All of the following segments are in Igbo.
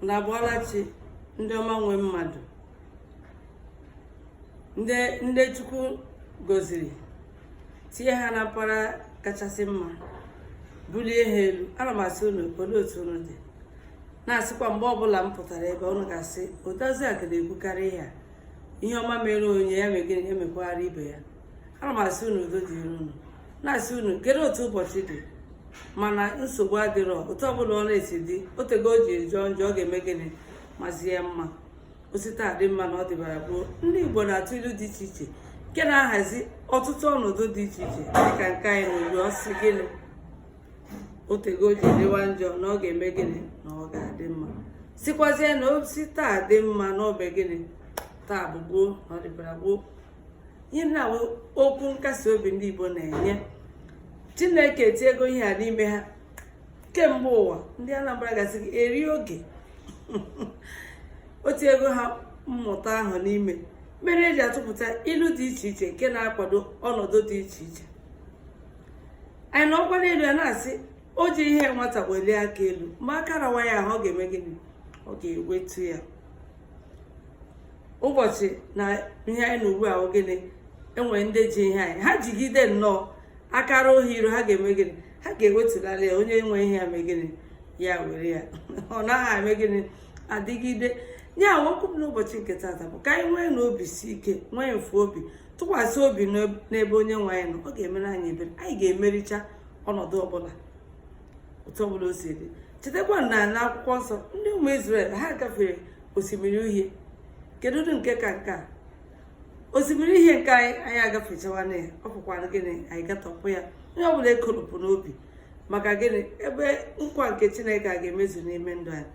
na abọọla chi ndị ọma nwe mmadụ ndị chukwu goziri tinye ha na mpaghara kachasị mma bulie ha elu ana m asị unu olee otu unu dị na-asịkwa mgbe ọbụla m pụtara ebe unu ga-asị odoziakụ na-ekwukarị ihe a ihe ọma mere onye ya mee gịnị ya mekwaara ibe ya ana m asị unu udo dịrị unu na-asị unu kedu otu ụbọchị dị mana nsogbu adịrọ otu ọbụla ọ na-esi dị o tego o ji jọọ njọ ọ ga-eme gịnị mazie mma o si taa dị mma na ọ dịbara gboo ndị igbo na-atụ ilu dị iche iche nke na-ahazi ọtụtụ ọnọdụ dị iche iche dịka nke anyị na-eri ọ sị gịnị o tego o ji dịwa njọ na ọ ga-eme gịnị na ọ ga-adị mma sikwazie na o si taa dị mma na o mee gịnị taa bụ gboo na ọ dịbara gboo ihe ndị a wụ okwu nkasi obi ndị Igbo na-enye Chineke tinyego ihe a n'ime ha kemgbe ụwa ndị Anambra ga-asị gị eri oge o tinyego ha mmụta ahụ n'ime mere e ji atụpụta ilu dị iche iche nke na-akwado ọnọdụ dị iche iche anyị nọkwa n'elu ya na-asị o ji ihe nwata welie aka elu ma aka rawa ya ahụ ọ ga-eme gịnị ọ ga-ewetu ya ụbọchị na ihe anyị nọ ugbu a gịnị e nwere ndị ji ihe anyị ha jigide nnọọ akara ohi iru ha ga-eme gịnị ha ga-ewetulịrị ya onye nwe ihe ya mee gịnị ya were ya ọ naghị eme gịnị adịgide ya wụ okwu m n'ụbọchị nke tata bụ ka anyị nweenụ obi si ike nwee mfe obi tụkwasị obi n'ebe onye nwe anyị nọ ọ ga-emere anyị ebere anyị ga-emericha ọnọdụ ọbụla otu ọ bụla o si dị chetakwa na n'akwụkwọ nsọ ndị ụmụ Izrel ha gafere osimiri uhie kedu ụdị nke ka nke a osimiri uhie nke anyị anyị agafechawana ya ọ bụkwara gịnị anyị gatọpụ ya onye ọbụla ekolopụna obi maka gịnị ebe nkwa nke chineke a ga-emezu n'ime ndụ anyị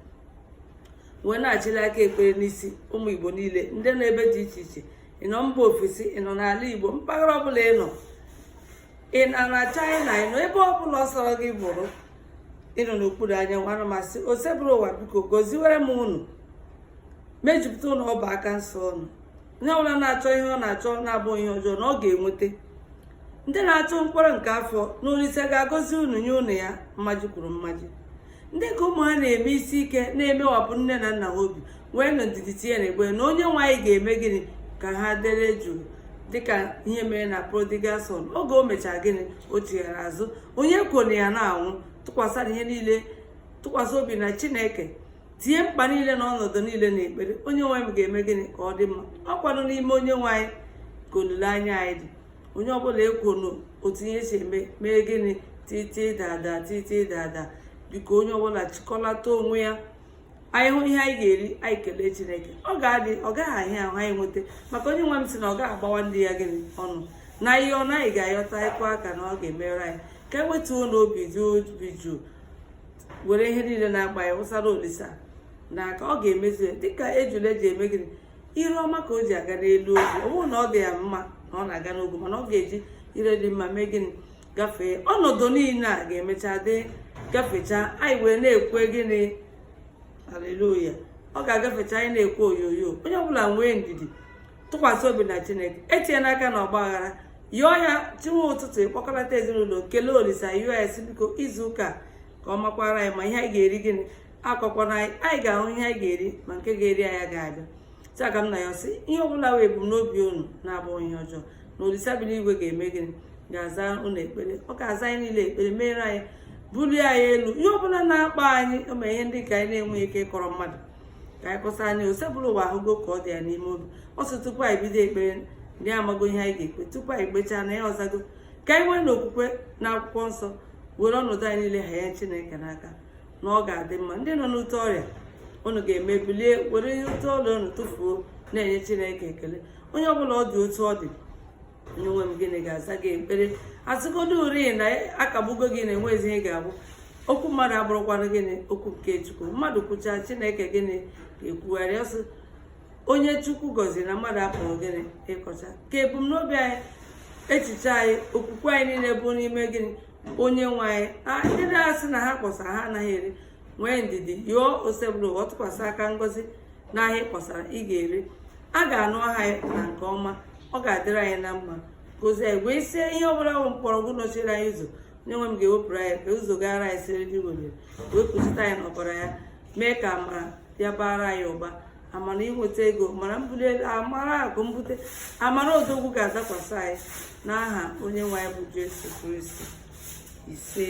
wee na-achịli aka ekpere n'isi ụmụ igbo niile ndị nọ ebe dị iche iche ị nọ mba ofesi ị nọ n'ala igbo mpaghara ọbụla ị nọ ị nọ na China ị nọ ebe ọ bụla ọ sọrọ gị bụrụ ị nọ n'okpuru anyanwụ ana m asị osebụrụ ụwa biko goziwere m unu mejupụta ụlọ ọba aka nsọ ọnụ onye ọbụla na-achọ ihe ọ na-achọ na-abụghị ihe ọjọọ na ọ ga-enweta ndị na-achọ mkpụrụ nke afọ na olisa ga-agọzi unu nye unu ya mmaji kwuru mmaji ndị ka ụmụ ha na-eme isi ike na-emewapụ nne na nna ha obi nweenụ ndidi tinye na ekpere na onye nwe anyị ga-eme gịnị ka ha dere jụụ dịka ihe mere na prodigal son oge o mechara gịnị o chighara azụ onye kwere ya na-anwụ tụkwasị ihe niile tụkwasị obi na chineke tinye mkpa niile na ọnọdụ niile na ekpere onye nwe anyị ga-eme gịnị ka ọ dị mma ọ kwanụ n'ime onye nwe anyị ka olileanya anyị dị onye ọbụla ekwona otu ihe si eme mee gịnị titi dada titi dada biko onye ọbụla chịkọlata onwe ya anyị hụ ihe anyị ga-eri anyị kelee chineke ọ ga-adị ọ gaghị ahịa ahụ anyị nweta maka onye nwe m sị na ọ gaghị agbawa ndị ya gịnị ọnụ na ihe ọ naghị ga-ayọta ịkwa aka na ọ ga-emere anyị ka e wetuonụ obi dị obi jụụ were ihe niile na-akpa anyị wụsara olisa n'aka ọ ga-emezu ya dịka ejula ji eme gịnị ire ọma ka o ji aga n'elu ogwu ọ bụrọ na ọ dị ya mma na ọ na-aga n'ogwu mana ọ ga-eji ire dị mma mee gịnị gafee ọnọdụ niile a ga-emecha dị gafechaa anyị wee na-ekwe gịnị aleluya ọ ga-agafecha anyị na-ekwe oyoyo onye ọbụla nwee ndidi tụkwasị obi na chineke etinyena aka na ọgbaghara yọọ ya chinwe ụtụtụ ị kpọkọlata ezinụlọ kelee olisa sị biko izu ụka ka ọ makwara anyị mma ihe anyị ga-eri gịnị akọkwana anyị anyị ga-ahụ ihe anyị ga-eri ma nke ga-eri anyị ga-abịa taa ka m na-asị ihe ọbụla bụ ebumnobi unu na-abụghị ihe ọjọọ na olisa bi n'igwe ga-eme gịnị ga-aza unu ekpere ọ ga-aza anyị niile ekpere meere anyị bulie anyị elu ihe ọbụla na-akpa anyị ma ihe ndị ka anyị na-enweghị ike ịkọrọ mmadụ ka anyị kọsa anyị osebụrụwa ahụgo ka ọ dị anyị n'ime obi ọ sị tupu anyị bido ekpere na ya amago ihe anyị ga-ekpe tupu anyị kpechaa na ya azago ka anyị nweenụ okwukwe na akwụkwọ nsọ were ọnọdụ anyị niile hanye chineke n'aka na ọ ga-adị mma ndị nọ n'ute ọrịa unu ga-eme bilie were ihe ute ọrịa unu tụfuo na-enye chineke ekele onye ọbụla ọ dị otu ọ dị onye nwe m gịnị ga-aza gị ekpere a sịgodu rị na a kagbugo gị na enwezi ihe ị ga-abụ okwu mmadụ abụrọkwanụ gịnị okwu nke chukwu mmadụ kwuchaa chineke gịnị ga-ekwugharị ọzọ onye chukwu gọziri na mmadụ apụrọ gịnị ịkọcha ka ebumnobi anyị echiche anyị okwukwe anyị niile bụ n'ime gịnị onye nwe anyị ndị na-asị na ha kpọsara ha anaghị ere nwee ndidi yọọ osebụrụwa tụkwasị aka ngozi n'ahịa ị kpọsara ị ga-ere a ga-anụ aha anyị na nke ọma ọ ga-adịrị anyị na mma gozie anyị wee sị ihe ọbụla bụ mkpọrọgwụ nọchiri anyị ụzọ onye nwe m ga-ewepụrụ anyị ka ụzọ gara anyị siriri werere wee kpuchite anyị n'ọbara ya mee ka amara ya bara anyị ụba amara inweta ego amara mbuli elu amara akụ mbute amara odogwu ga-adakwasị anyị n'aha onye nwe anyị bụ Jesu Kristi ise